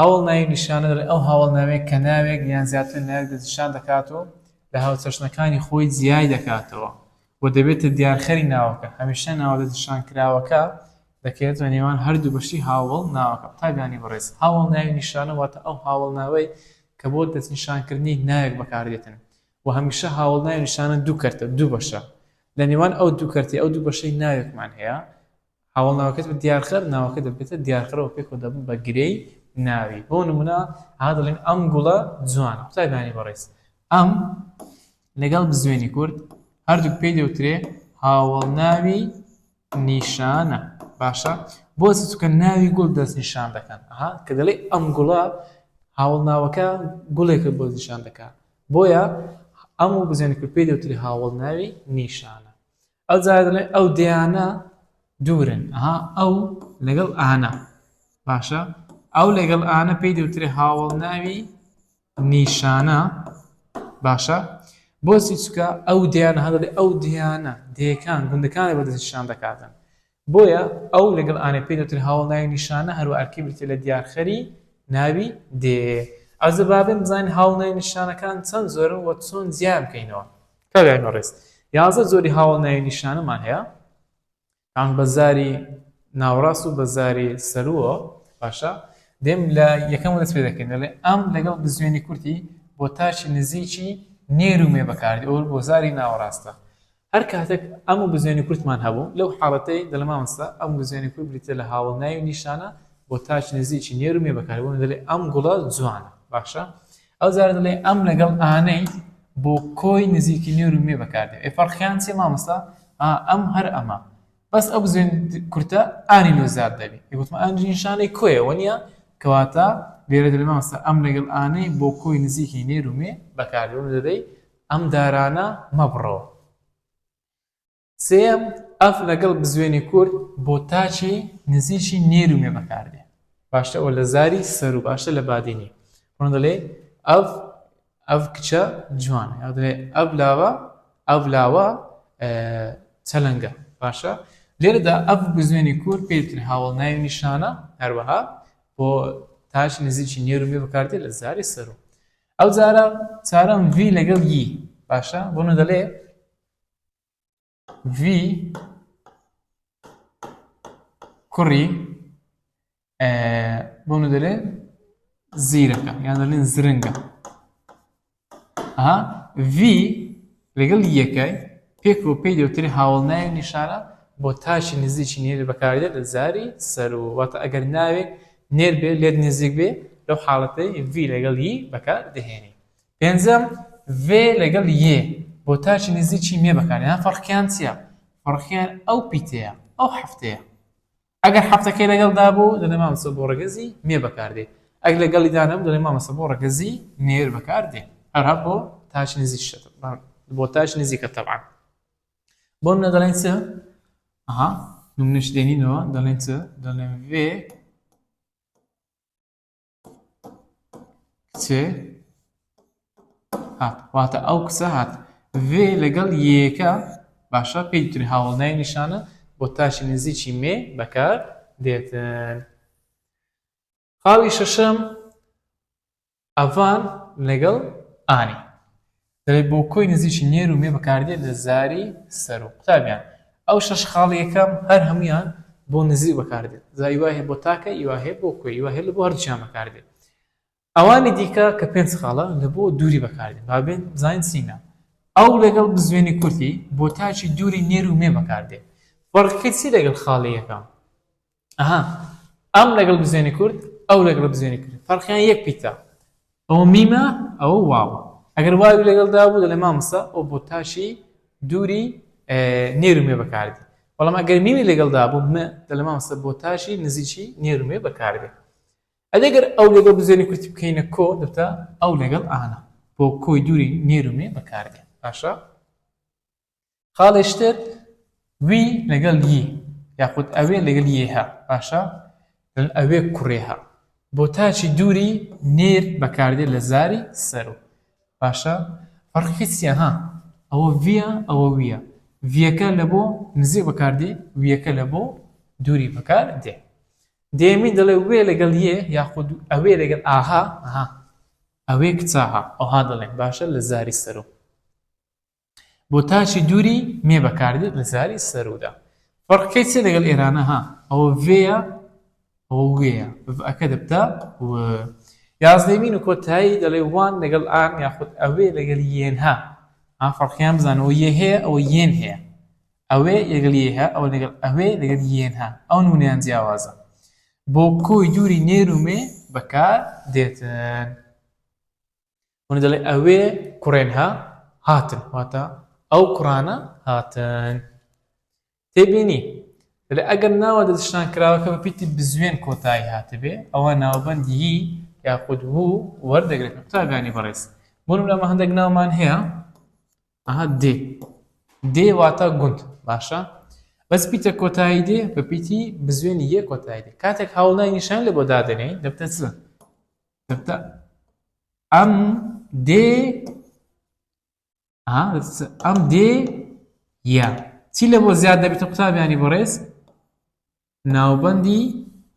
هاوەڵناوی نیشانەدەر ئەو هاوەڵناوەیە کە ناوێک یان زیاتر لە ناوێک دەستنیشان دەکات و لە هاوچەشنەکانی خۆی جیای دەکاتەوە و دەبێتە دیارخەری ناوەکە، هەمیشە ناوە دەستنیشانکراوەکە دەکەوێتە نێوان هەردوو بەشی هاوەڵناوەکە. قوتابیانی بەڕێز، هاوەڵناوی نیشانە واتە ئەو هاوەڵناوەی کە بۆ دەستنیشانکردنی ناوێک بەکاردێتن و هەمیشە هاوەڵناوی نیشانە دوو کەرتە، دوو بەشە، لە نێوان ئەو دوو کەرتەی ئەو دوو بەشەی ناوێکمان هەیە هاوەڵ ناوەکەت بە دیارخەر ناوەکە دەبێتە دیارخەرەوە پێ کۆ دەبن بە گرێی ناوی بۆ نمونە ها دەڵێن ئەم گوڵە جوانە قوتابیانی بەڕێز ئەم لەگەڵ بزوێنی کورد هەردووک پێی دەوترێ هاوەڵ ناوی نیشانە باشە بۆ چکە ناوی گوڵ دەست نیشان دەکەن ها کە دەڵێ ئەم گوڵە هاوڵ ناوەکە گوڵێکە بۆ نیشان دەکات بۆیە ئەم و بزێنکرد پێی دەوتری هاوڵ ناوی نیشانە ئەو جارە دەڵێ ئەو دەیانە دوورن ئەها ئەو لەگەڵ ئانا باشە ئەو لەگەڵ ئانا پێی دەوترێ هاوڵ ناوی نیشانە باشە بۆچی چکە ئەو دیانە هەڵێ ئەو دیانە دێکان گوندەکانی بەدەستشان دەکاتن بۆیە ئەو لەگەڵ ئانێ پێی دەوترێ هاوەڵ ناوی نیشانە هەروە ئەرکی بریتیە لە دیارخەری ناوی دێ. ئازە با بێن بزانین هاوەڵ ناوی نیشانەکان چەند زۆرن و چۆن جیایان بکەینەوە. کابراین بەڕێز یازدە جۆری هاوەڵ ناوی نیشانەمان هەیە تان بە زاری ناوڕاست و بە زاری سەرووە باشە دێم لە یەکەم دەست پێ دەکەین دەڵێ ئەم لەگەڵ بزوێنی کورتی بۆ تاچی نزیکی نێر و مێ بەکاردی ئەو بۆ زاری ناوەڕاستە هەر کاتێک ئەم و بزوێنی کورتمان هەبوو، لەو حاڵەتەی دەلمامەسە، ئەم و بزوێنی کورت بریتیە لە هاوەڵ ناوی و نیشانە بۆ تاک نزیکی نێر و مێ بەکار بۆ من دەلێ ئەم گوڵە جوانە باشە ئەو جارە دەلێ ئەم لەگەڵ ئانەی بۆ کۆی نزیکی نێر و مێ بەکار دێ ئێ فەرقیان چیە مامەستا ئا ئەم هەر ئەمە بەس ئەو بزوێن کورتە ئانی لۆ زیاد دەبی ئی گوتمە ئەم نیشانەی کۆیە وەنیە کەواتە لێرە دەلێ مامەستا ئەم لەگەڵ ئانەی بۆ کۆی نزیکی نێر و مێ بەکار دێ بۆ من دەلێی ئەم دارانە مەبڕەوە. سێیەم، ئەف لەگەڵ بزوێنی کورت بۆ تاکی نزیکی نێر و مێ بەکار دێ. باشتە ئەوە لە زاری سەر و باشتە لە بادینی. ڕۆن دەلێ ئەف ئەف کچە جوانە. یا دەلێ ئەف لاوە ئەف لاوە چەلەنگە. باشە؟ لێرەدا ئەف بزوێنی کورت پێی دەترێ هاوەڵناوی نیشانە هەروەها بۆ تاکی نزیکی نێر و مێ بەکار دێ لە زاری سەر و. ئەو جارە چارەم ڤی لەگەڵ ی باشە بۆ نە دەلێ ڤی کوڕی بۆ نە دەلێ زیرەکە یان دەلێن زرنگە ها ڤی لەگەڵ یەکای، پێک و پێی دەوترێ هاوەڵناوی نیشانە بۆ تاکی نزیکی نێر بەکاردێت لە زاری سەروو، واتە ئەگەر ناوێک نێر بێ لێت نزیک بێ لەو حاڵەتەی ڤی لەگەڵ ی بەکار دەهێنی. پێنجەم، ڤێ لەگەڵ یێ بۆ تاکی نزیکی مێ بەکاردێنە فەڕقیان چیە؟ فەڕقیان ئەو پیتەیە، ئەو هەفتەیە. ئەگەر حەفتەکەی لەگەڵدا بوو، دەڵێ مامۆستا بۆ ڕەگەزی مێ بەکاردێ، ئەگەر لەگەڵیدا نەبوو، دەڵێ مامۆستا بۆ ڕەگەزی نێر بەکاردێ، هەروەها بۆ تاش نزیک شتە تەبعەن، بۆ تاش نزیکە تەبعەن. بۆ نمونە دەڵێن چ؟ ئەها نمونەش دێنینەوە دەڵێن چ؟ دەڵێن ڤێ کچێ هات واتە ئەو کچە هات وێ لەگەڵ یەکە باشە پێی دوتری هاوڵنای نیشانە بۆ تاشی نزیکی مێ بەکار دێتن خاڵی شەشەم ئەڤان لەگەڵ ئانی دەڵێت بۆ کۆی نزیکی نێر و مێ بەکاردێت لە زاری سەر و قوتابیان ئەو شەش خاڵی یەکەم هەر هەموویان بۆ نزیک بەکاردێت جا ی وایە بۆ تاکە ی وایە بۆ کۆی ی وایە بۆ هەردووکیان بەکاردێت ئەوانی دیکە کە پێنج خاڵە لە بۆ دووری بەکاردێت با بێن زانین سینگە ئەو لەگەڵ بزوێنی کورتی بۆ تاکی دووری نێر و مێ بەکاردێت فەڕقی چی لەگەڵ خاڵی یەکەم ئەها ئەم لەگەڵ بزێنی کورد ئەو لەگەڵ بزێنی کورد فەرقیان یەک پیتە ئەوە میمە ئەوە واوە ئەگەر واوی لەگەڵدا بوو دەڵێ مامۆستا ئەو بۆ تاشی دووری نێرومێ بەکاردی بەڵام ئەگەر میمی لەگەڵدا بوو م دەڵێ مامۆستا بۆ تاشی نزیکی نێرومێ بەکاردێ ئەدەگەر ئەو لەگەڵ بزێنی کورتی بکەینە کۆ دەبتە ئەو لەگەڵ ئانا بۆ کۆی دووری نێرومێ بەکاردێ باشە خاڵێ شتێت وی لەگەڵ ی یاخود ئەوێ لەگەڵ یها باشە ئەوێ کوڕێها بۆ تاچی دووری نێر بەکاردێت لە زاری سەرو باشە فەرقیسیە ها ئەوە ڤە ئەوە ویە ڤەکە لە بۆ نزیێ بەکاردێ ویەکە لە بۆ دووری بەکار دێ دێمین دەڵێ وێ لەگەڵ یێ یاخود ئەوێ لەگەڵ ئاها ئەوێ کچاها ئەوها دەڵێن باشە لە زاری سەرو بۆ تاچی دووری مێ بەکاردێت لە زاری سەرودا فەرقکەی چێ لەگەڵ ئێرانە ها ئەوە وێە ئەوە وێە ئەەکە دەبتا و یازدەمین و کۆتایی دەڵێ وان لەگەڵ ئان یاخود ئەوێ لەگەل یێنها ئا فەرقیان بزانەوە یە هەیە ئەوە یێن هەیە ئەوێ لەگەل یەها ئەوە لەگەڵ ئەوێ لەگەل یێنها ئەو نونیان جیاوازە بۆ کۆی دووری نێرومێ بەکار دێتن هونە دەڵێ ئەوێ کوڕێن ها هاتن واتە ئەو کوڕانە هاتن تێبینی لە ئەگەر ناوە دەستشتان کراوەکە بە پیتی بزوێن کۆتایی هاتبێ ئەوە ناوبندی یاخود بوو وەردەگرێت قوتابیانی بەڕێز بۆنم لەمە هەندێک ناومان هەیە ئەها دێ دێ واتە گوند باشە بەس پیتە کۆتایی دێ بە پیتی بزوێنی یە کۆتایی دێ کاتێک هاوڵای نیشان لە بۆ دادنێ دەبتە چ سەرتا ئەم دێ ئەم دێ یا چی لە بۆ زیاد دەبێتە قوتابیانی بەڕێز ناوبەندی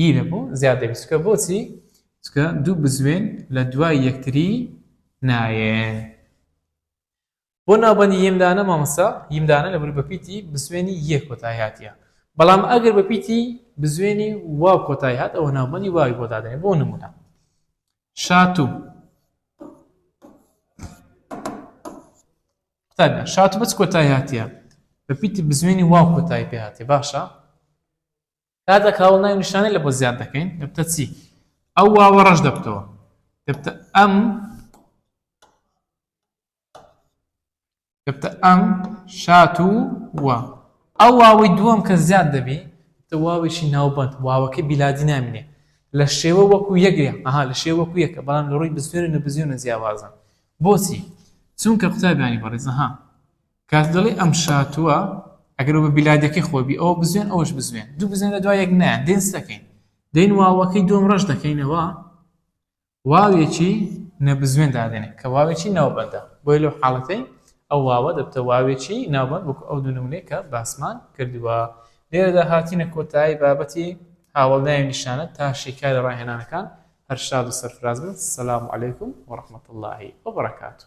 ی لە بۆ زیاد دەبێت چکە بۆچی چکە دوو بزوێن لە دوای یەکتری نایە بۆ ناوبەندی ییم دانە مامۆستا؟ ییم دانە لە بروپە پیتی بزوێنی یە کۆتای هاتیە بەڵام ئەگەر بە پیتی بزوێنی واو کۆتای هات ئەوە ناوبەندی واوی بۆ دادەنێ بۆ نمونە شاتوو قوتابیان شاتوو بەچ کۆتای هاتیە بە پیتی بزوێنی واو کۆتای پێ هاتێ باشە کاتە کاوڵ ناوی نیشانەی لە بۆ زیاد دەکەین دەبتە چی ئەو واوە ڕەش دەبتەوە دەبتە ئەم گفتە ئەم، شات و و. ئەو واوەی دووەم کە زیاد دەبی، گفتە واوێکی ناوبەند، واوەکەی بیلادی نامینێ. لە شێوە وەکوو یەک ە، ئەها، لە شێوە وەکوو یەک ە، بەڵام لە ڕووی بزوێن و نەبزوێنە جیاوازن. بۆچی؟ چونکە قوتابیانی بەڕێز، ئەها، کاتێ دەڵێی ئەم، شات و و، ئەگەر و بە بیلادییەکەی خۆی بی، ئەوە بزوێن، ئەوەش بزوێن. دوو بزوێن لە دوای یەک نایەن، دێن چ دەکەین؟ دێین واوەکەی دووەم ڕەش دەکەینەوە، واوێکی نەبزوێن دادەنێ کە واوێکی ناوبەندە، بۆیە لەو حاڵەتەی ئەو واوە دەبتە واوێکی ناوبەند وەکو ئەو دوو نمونەی کە باسمان کردوە. لێرەدا هاتینە کۆتایی بابەتی هاوەڵناوی نیشانە تا شیکاری ڕاهێنانەکان هەر شاد و سەرفراز بن سلام علیکم و رحمت اللە و برکاته.